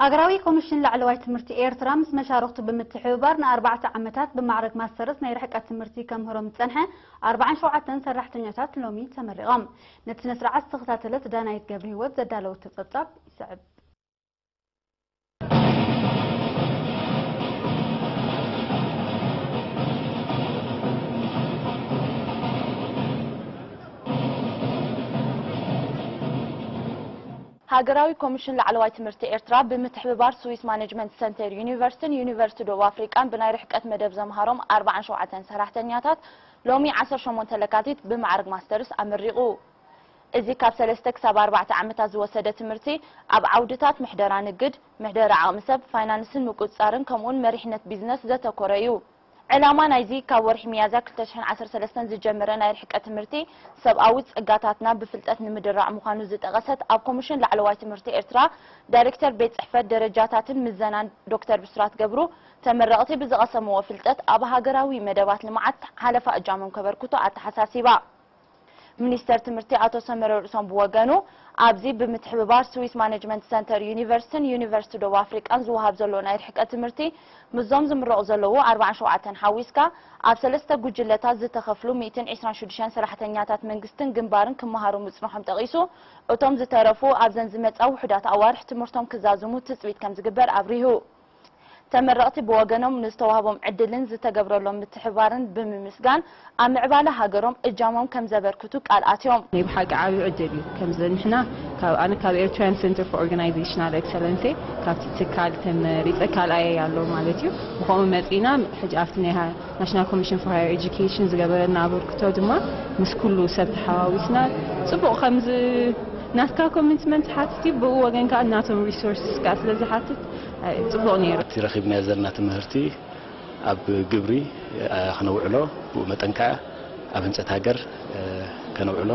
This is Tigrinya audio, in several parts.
ሃገራዊ ኮሚሽን ላዕለዋይ ትምህርቲ ኤርትራ ምስ መሻርኽቱ ብምትሕብባር ንኣርባዕተ ዓመታት ብማዕረግ ማስተርስ ናይ ርሕቀት ትምህርቲ ከምህሮም ዝጸንሐ ኣርብዓን ሸውዓተን ሰራሕተኛታት ሎሚ ተመሪቖም። ነቲ ስነስርዓት ዝተኸታተለት ዳናይት ገብርሂወት ዘዳለወቶ ጸብጻብ ይስዕብ። ሃገራዊ ኮሚሽን ላዕለዋይ ትምህርቲ ኤርትራ ብምትሕብባር ስዊስ ማነጅመንት ሰንተር ዩኒቨርሲቲን ዩኒቨርሲቲ ደቡብ ኣፍሪቃን ብናይ ርሕቀት መደብ ዘምሃሮም ኣርብዓን ሸውዓተን ሰራሕተኛታት ሎሚ ዓሰርተ ሸሞንተ ለካቲት ብማዕርግ ማስተርስ ኣመሪቑ። እዚ ካብ ሰለስተ ክሳብ ኣርባዕተ ዓመታት ዝወሰደ ትምህርቲ ኣብ ዓውድታት ምሕደራ ንግድ፣ ምሕደራ ዓቕሚ ሰብ፣ ፋይናንስን ምቁጽጻርን ከምኡውን መሪሕነት ቢዝነስ ዘተኮረ እዩ። ዕላማ ናይዚ ካብ ወርሒ ሚያዝያ ክልተ ሽሕን ዓሰርተ ሰለስተን ዝጀመረ ናይ ርሕቀት ትምህርቲ፣ ሰብኣዊ ጸጋታትና ብፍልጠት ንምድራዕ ምዃኑ ዝጠቐሰት ኣብ ኮሚሽን ላዕለዋይ ትምህርቲ ኤርትራ ዳይሬክተር ቤት ጽሕፈት ደረጃታትን ምዘናን ዶክተር ብስራት ገብሩ፣ ተመረቕቲ ብዝቐሰምዎ ፍልጠት ኣብ ሃገራዊ መደባት ልምዓት ሓለፋ እጃሞም ከበርክቱ ኣተሓሳሲባ። ሚኒስተር ትምህርቲ ኣቶ ሰመረ ርእሶም ብወገኑ፣ ኣብዚ ብምትሕብባር ስዊስ ማነጅመንት ሰንተር ዩኒቨርሲቲን ዩኒቨርሲቲ ደቡብ ኣፍሪቃን ዝወሃብ ዘሎ ናይ ርሕቀት ትምህርቲ ምስዞም ዝምረቑ ዘለዉ ኣርብዓን ሸውዓተን ሓዊስካ ኣብ ሰለስተ ጉጅለታት ዝተኸፍሉ ሚእትን ዕስራን ሽዱሽተን ሰራሕተኛታት መንግስትን ግንባርን ክመሃሩ ምጽንሖም ጠቒሱ እቶም ዝተረፉ ኣብዘን ዝመጻ ውሑዳት ኣዋርሕ ትምህርቶም ክዛዝሙ ትጽቢት ከምዝግበር ኣብሪሁ። ተመረቕቲ ብወገኖም ንዝተዋህቦም ዕድልን ዝተገብረሎም ምትሕብባርን ብምምስጋን ኣብ ምዕባለ ሃገሮም እጃሞም ከምዘበርክቱ ቃል ኣትዮም። ናይ ብሓቂ ዓቢ ዕድል እዩ ከምዚ ንሕና ካብ ኣነ ካብ ኤርትርያን ሰንተር ፎር ኦርጋናይዘሽናል ኤክሰለንሴ ካብቲ ትካል ተመሪጸ ካልኣየይ ኣሎ ማለት እዩ ብኸምኡ መጺእና ሕጂ ኣብቲ ናይ ናሽናል ኮሚሽን ፎር ሃየር ኤጁኬሽን ዝገበረና ኣበርክቶ ድማ ምስ ኩሉ ሰብ ተሓዋዊስና ጽቡቕ ከምዚ ናትካ ኮሚትመንት ሓትት እዩ ብኡ ወገን ከኣ ናቶም ሪሶርስስ ከኣ ስለ ዝሓትት ጽቡቕ ነይሩ። እቲ ረኺብናዮ ዘለና ትምህርቲ ኣብ ግብሪ ክነውዕሎ ብኡ መጠን ከኣ ኣብ ህንጸት ሃገር ከነውዕሎ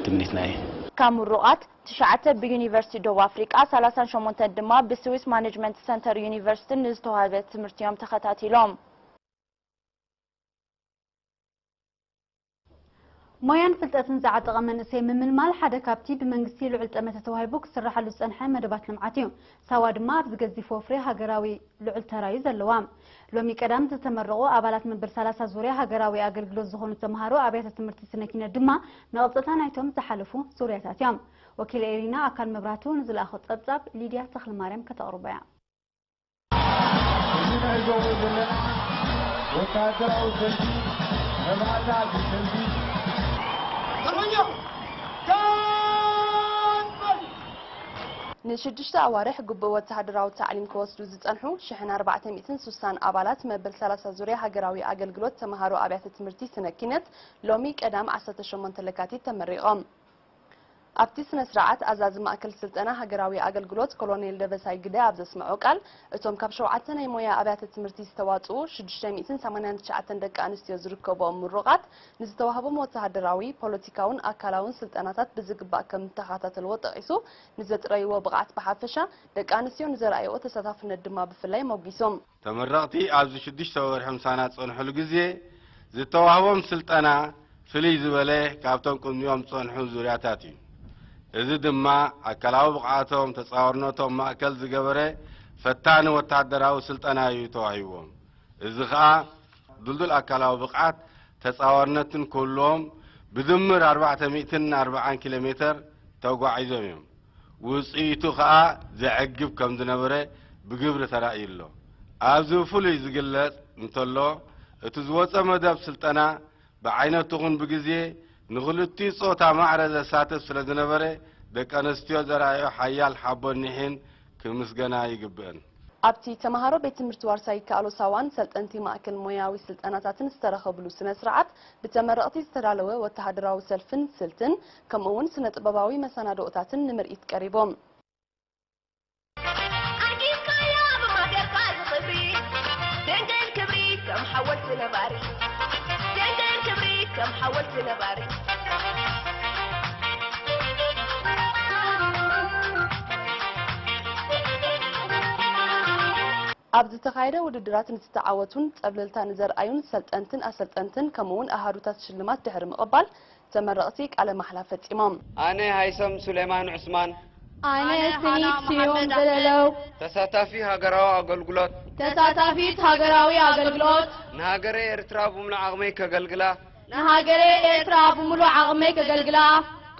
ትምኒትና እዩ። ካብ ምሩቓት፣ ትሽዓተ ብዩኒቨርሲቲ ዶብ ኣፍሪቃ፣ ሰላሳን ሸሞንተን ድማ ብስዊስ ማነጅመንት ሰንተር ዩኒቨርሲቲን ንዝተዋህበ ትምህርቲ'ዮም ተኸታቲሎም። ሞያን ፍልጠትን ዝዓጠቐ መንእሰይ ምምልማል ሓደ ካብቲ ብመንግስቲ ልዑል ጠመተ ተዋሂቡ ክስራሓሉ ዝጸንሐ መደባት ልምዓት እዩ። ሳዋ ድማ ኣብዚ ገዚፍ ወፍሪ ሃገራዊ ልዑል ተራ እዩ ዘለዋ። ሎሚ ቀዳም ዝተመረቑ ኣባላት መበል ሰላሳ ዙርያ ሃገራዊ ኣገልግሎት ዝኾኑ ተምሃሮ ኣብያተ ትምህርቲ ስነ ኪነት ድማ መቐጸልታ ናይቶም ዝሓለፉ ዙርያታት እዮም። ወኪል ኤሪና ኣካል መብራህቱ ንዝለኣኾ ጸብጻብ ሊድያ ተኽለማርያም ከተቕርቦ እያ። እዚ ንዕዘቦ ዘለና ወተሃደራዊ ሰልፊ መባእታ ድሕሪ ሰልፊ ዘበኛ ጋን በል! ንሽዱሽተ ኣዋርሕ ግቡእ ወተሃደራዊ ታዕሊም ክወስዱ ዝጸንሑ ሽሕን ኣርባዕተ ሚእትን ሱሳን ኣባላት መበል ሰላሳ ዙርያ ሃገራዊ ኣገልግሎት ተመሃሮ ኣብያተ ትምህርቲ ስነ ኪነት ሎሚ ቀዳም ዓሰርተ ሸሞንተ ለካቲት ተመሪቖም። ኣብቲ ስነ-ስርዓት ኣዛዚ ማእከል ስልጠና ሃገራዊ ኣገልግሎት ኮሎኔል ደበሳይ ግደ ኣብ ዘስመዖ ቃል፣ እቶም ካብ ሸውዓተ ናይ ሞያ ኣብያተ ትምህርቲ ዝተዋጽኡ ሽዱሽተ ሚእትን ሰማንያን ትሽዓተን ደቂ ኣንስትዮ ዝርከብኦም ምሩቓት ንዝተዋህቦም ወተሃደራዊ፣ ፖለቲካውን ኣካላውን ስልጠናታት ብዝግባእ ከምተኸታተልዎ ጠቒሱ ንዘጥረይዎ ብቕዓት ብሓፈሻ ደቂ ኣንስትዮ ንዘርኣይኦ ተሳታፍነት ድማ ብፍላይ ሞጒሶም። ተመረቕቲ ኣብዚ ሽዱሽተ ወርሒ ምሳና ዝጸንሑሉ ግዜ ዝተዋህቦም ስልጠና ፍልይ ዝበለ ካብቶም ቅድሚኦም ዝጸንሑ ዙርያታት እዩ። እዚ ድማ ኣካላዊ ብቕዓቶም፣ ተጻዋርነቶም ማእከል ዝገበረ ፈታኒ ወተሃደራዊ ስልጠና እዩ ተዋሂብዎም። እዚ ከኣ ድልዱል ኣካላዊ ብቕዓት፣ ተጻዋርነትን ክህልዎም ብድምር ኣርባዕተ ሚእትን ኣርባዓን ኪሎ ሜተር ተጓዒዞም እዮም። ውጽኢቱ ከኣ ዘዕግብ ከም ዝነበረ ብግብሪ ተራእዩ ኣሎ። ኣብዚ ብፍሉይ ዝግለጽ እንተሎ፣ እቲ ዝወጸ መደብ ስልጠና ብዓይነቱ ይኹን ብግዜ ንክልቲኡ ጾታ ማዕረ ዘሳትፍ ስለ ዝነበረ ደቂ ኣንስትዮ ዘርኣየኦ ሓያል ሓቦን ኒሕን ክምስገና ይግብእን። ኣብቲ ተመሃሮ ቤት ትምህርቲ ዋርሳይ ይከኣሎ ሳዋን ሰልጠንቲ ማእከል ሞያዊ ስልጠናታትን ዝተረኸብሉ ስነ-ስርዓት፣ ብተመረቕቲ ዝተዳለወ ወተሃደራዊ ሰልፍን ስልትን፣ ከምኡ እውን ስነ ጥበባዊ መሰናድኦታትን ንምርኢት ቀሪቦም። ኣብ ዝተኻየደ ውድድራት ንዝተዓወቱን ፀብለልታ ንዘርኣዩን ሰልጠንትን ኣሰልጠንትን ከምኡ እውን ኣሃዱታት ሽልማት ድሕሪ ምቕባል ተመረቕቲ ቃለ ማሕላ ፈፂሞም። ኣነ ሃይሰም ሱሌማን ዑስማን። ኣነ ስኒት ስዩም ዘለለው። ተሳታፊ ሃገራዊ ኣገልግሎት። ተሳታፊት ሃገራዊ ኣገልግሎት። ንሃገረይ ኤርትራ ብምሉእ ዓቕመይ ከገልግላ። ንሃገረይ ኤርትራ ብምሉእ ዓቕመይ ከገልግላ።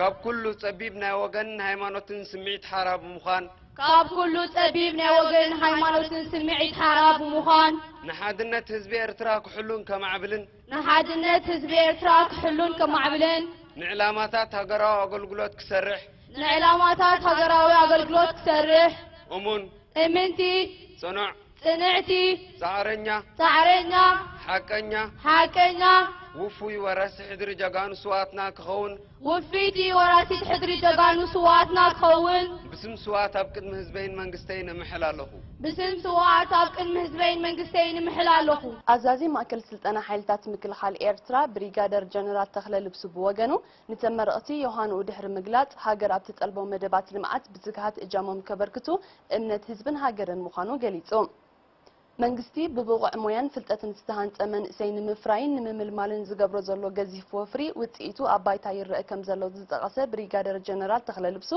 ካብ ኩሉ ፀቢብ ናይ ወገንን ሃይማኖትን ስምዒት ሓራ ብምዃን። ካብ ኩሉ ፀቢብ ናይ ወገንን ሃይማኖትን ስምዒት ሓራ ብምዃን። ንሓድነት ህዝቢ ኤርትራ ክሕሉን ከማዕብልን። ንሓድነት ህዝቢ ኤርትራ ክሕሉን ከማዕብልን። ንዕላማታት ሃገራዊ ኣገልግሎት ክሰርሕ። ንዕላማታት ሃገራዊ ኣገልግሎት ክሰርሕ። እሙን። እምንቲ። ጽኑዕ። ጽንዕቲ። ጻዕረኛ። ጻዕረኛ። ሓቀኛ። ሓቀኛ። ውፉይ ወረሲ ሕድሪ ጀጋኑ ስውኣትና ክኸውን። ውፍይቲ ወራሲት ሕድሪ ጀጋኑ ስውኣትና ክኸውን። ብስም ስውኣት ኣብ ቅድሚ ህዝበይን መንግስተይን እምሕል ኣለኹ። ብስም ስውኣት ኣብ ቅድሚ ህዝበይን መንግስተይን እምሕል ኣለኹ። ኣዛዚ ማእከል ስልጠና ሓይልታት ምክልኻል ኤርትራ ብሪጋደር ጀነራል ተኽለ ልብሱ ብወገኑ፣ ንተመረቕቲ ዮሃንኡ ድሕሪ ምግላጽ፣ ሃገር ኣብ ትጠልቦ መደባት ልምዓት ብትግሃት እጃሞም ከበርክቱ እምነት ህዝብን ሃገርን ምዃኑ ገሊጹ። መንግስቲ ብብቑዕ ሞያን ፍልጠትን ዝተሃንጸ መንእሰይ ንምፍራይን ንምምልማልን ዝገብሮ ዘሎ ገዚፍ ወፍሪ ውጽኢቱ ኣብ ባይታ ይረኣ ከምዘሎ ዝጠቐሰ ብሪጋደር ጀነራል ተኽለ ልብሱ፣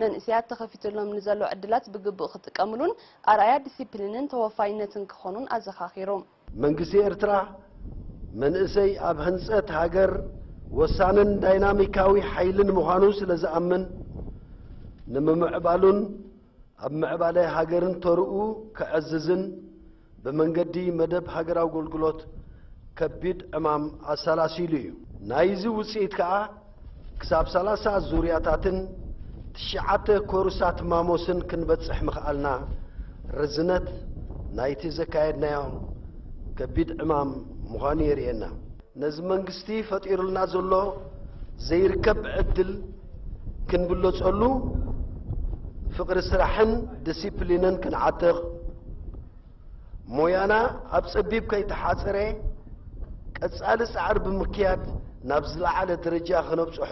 መንእሰያት ተኸፊቱሎም ንዘሎ ዕድላት ብግቡእ ክጥቀምሉን ኣርኣያ ዲሲፕሊንን ተወፋይነትን ክኾኑን ኣዘኻኺሩ። መንግስቲ ኤርትራ፣ መንእሰይ ኣብ ህንጸት ሃገር ወሳንን ዳይናሚካዊ ሓይልን ምዃኑ ስለዝኣምን፣ ንምምዕባሉን ኣብ ምዕባለ ሃገርን ተርኡ ከዕዝዝን ብመንገዲ መደብ ሃገራዊ ኣገልግሎት ከቢድ ዕማም ኣሰላሲሉ እዩ። ናይዚ ውጽኢት ከኣ ክሳብ ሰላሳ ዙርያታትን ትሽዓተ ኮርሳት ማሞስን ክንበጽሕ ምኽኣልና ርዝነት ናይቲ ዘካየድናዮ ከቢድ ዕማም ምዃኑ የርእየና። ነዚ መንግስቲ ፈጢሩልና ዘሎ ዘይርከብ ዕድል ክንብለጸሉ፣ ፍቕሪ ስራሕን ድሲፕሊንን ክንዓጥቕ፣ ሞያና ኣብ ጸቢብ ከይተሓጽረ ቀጻሊ ጻዕሪ ብምክያድ ናብ ዝለዓለ ደረጃ ከነብጽሖ፣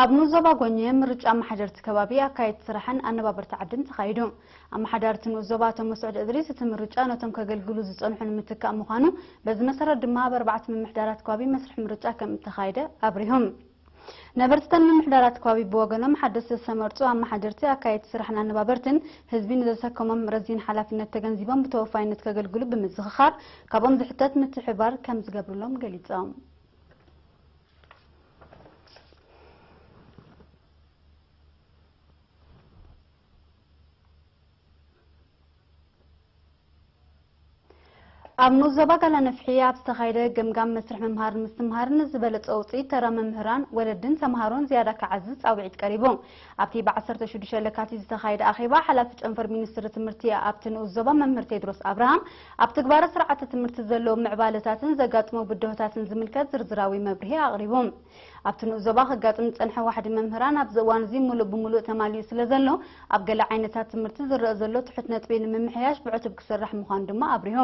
ኣብ ንኡስ ዞባ ጎኘ ምርጫ ኣመሓደርቲ ከባቢ፣ ኣካየድቲ ስራሕን ኣነባበርቲ ዓድን ተኻይዱ። ኣመሓዳርቲ ንኡስ ዞባ ኣቶ መስዑድ እድሪስ እቲ ምርጫ ነቶም ከገልግሉ ዝፀንሑ ንምትካእ ምዃኑ በዚ መሰረት ድማ ኣብ ኣርባዕተ ምምሕዳራት ከባቢ መስርሕ ምርጫ ከምእተኻየደ ኣብሪሆም። ነበርቲ እተን ምምሕዳራት ከባቢ ብወገኖም ሓደስቲ ዝተመርፁ ኣመሓደርቲ፣ ኣካየድቲ ስራሕን ኣነባበርትን ህዝቢ ንዘሰከሞም ረዚን ሓላፍነት ተገንዚቦም ብተወፋይነት ከገልግሉ ብምዝኽኻር ካብኦም ዝሕተት ምትሕብባር ከም ዝገብርሎም ገሊፆም። ኣብ ንኡስ ዞባ ጋላነፍሒ ኣብ ዝተኻየደ ገምጋም መስርሕ ምምሃርን ምስትምሃርን ዝበለፀ ውፅኢት ተራ መምህራን፣ ወለድን ተምሃሮን ዝያዳ ክዓዝዝ ፃውዒት ቀሪቡ። ኣብቲ ብ ዓሰርተ ሽዱሽተ ለካቲት ዝተኻየደ ኣኼባ፣ ሓላፊ ጨንፈር ሚኒስትሪ ትምህርቲ ኣብቲ ንኡስ ዞባ መምህር ቴድሮስ ኣብርሃም፣ ኣብ ትግባረ ስርዓተ ትምህርቲ ዘለዉ ምዕባለታትን ዘጋጥሙ ብድሆታትን ዝምልከት ዝርዝራዊ መብርሂ ኣቕሪቡ። ኣብቲ ንኡስ ዞባ ከጋጥም ዝጸንሐ ዋሕዲ መምህራን ኣብዚ እዋን'ዚ ምሉእ ብምሉእ ተማሊኡ ስለዘሎ፣ ኣብ ገለ ዓይነታት ትምህርቲ ዝረኣ ዘሎ ትሑት ነጥቢ ንምምሕያሽ ብዕቱብ ክስራሕ ምዃኑ ድማ ኣብሪሁ።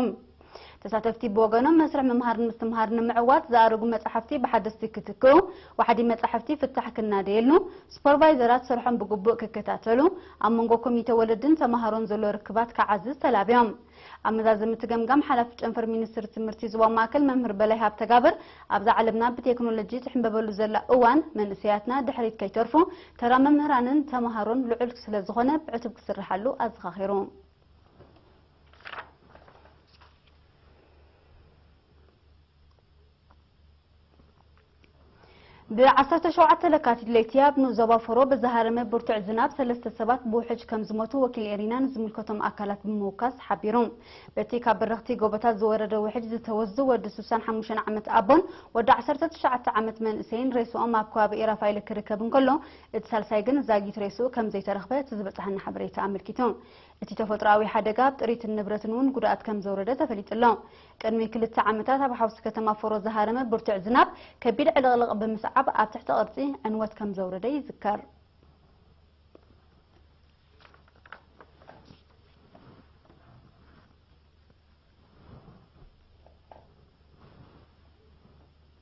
ተሳተፍቲ ብወገኖም መስርሕ ምምሃርን ምስትምሃርን ንምዕዋት ዝኣረጉ መፃሕፍቲ ብሓደስቲ ክትክኡ፣ ዋሕዲ መፃሕፍቲ ፍታሕ ክናደየሉ፣ ሱፐርቫይዘራት ስርሖም ብግቡእ ክከታተሉ፣ ኣብ መንጎ ኮሚቴ ወለድን ተምሃሮን ዘሎ ርክባት ክዓዝዝ ተላብዮም። ኣብ መዛዘሚ እቲ ገምጋም ሓላፊ ጨንፈር ሚኒስትሪ ትምህርቲ ዞባ ማእከል መምህር በላይ ሃብተጋብር ኣብዛ ዓለምና ብቴክኖሎጂ ትሕምበበሉ ዘላ እዋን መንእሰያትና ድሕሪት ከይተርፉ ተራ መምህራንን ተምሃሮን ልዑል ስለዝኾነ ብዕቱብ ክስርሓሉ ኣዘኻኺሩ። ብዓሰርተ ሸውዓተ ለካቲት ለይቲ ኣብ ንኡስ ዞባ ፎሮ ብዝሃረመ ብርቱዕ ዝናብ ሰለስተ ሰባት ብውሕጅ ከም ዝሞቱ ወኪል ኤሪና ንዝምልከቶም ኣካላት ብምውካስ ሓቢሩ። በቲ ካብ በረኽቲ ጎቦታት ዝወረደ ውሕጅ ዝተወስዱ ወዲ ስሳን ሓሙሽተን ዓመት ኣቦን ወዲ ዓሰርተ ትሽዓተ ዓመት መንእሰይን ሬስኦም ኣብ ከባቢ ኤራፋይለ ክርከብ እንከሎ እቲ ሳልሳይ ግን ዛጊት ሬስኡ ከም ዘይተረኽበ እቲ ዝበፀሓና ሓበሬታ ኣመልኪቱ። እቲ ተፈጥሮኣዊ ሓደጋ ኣብ ጥሪትን ንብረትን እውን ጉድኣት ከም ዘውረደ ተፈሊጡ ኣሎ። ቅድሚ ክልተ ዓመታት ኣብ ሓውሲ ከተማ ፎሮ ዝሃረመ ብርቱዕ ዝናብ ከቢድ ዕልቕልቕ ብምስዓብ ኣብ ትሕቲ ቅርፂ ዕንወት ከም ዘውረደ ይዝከር።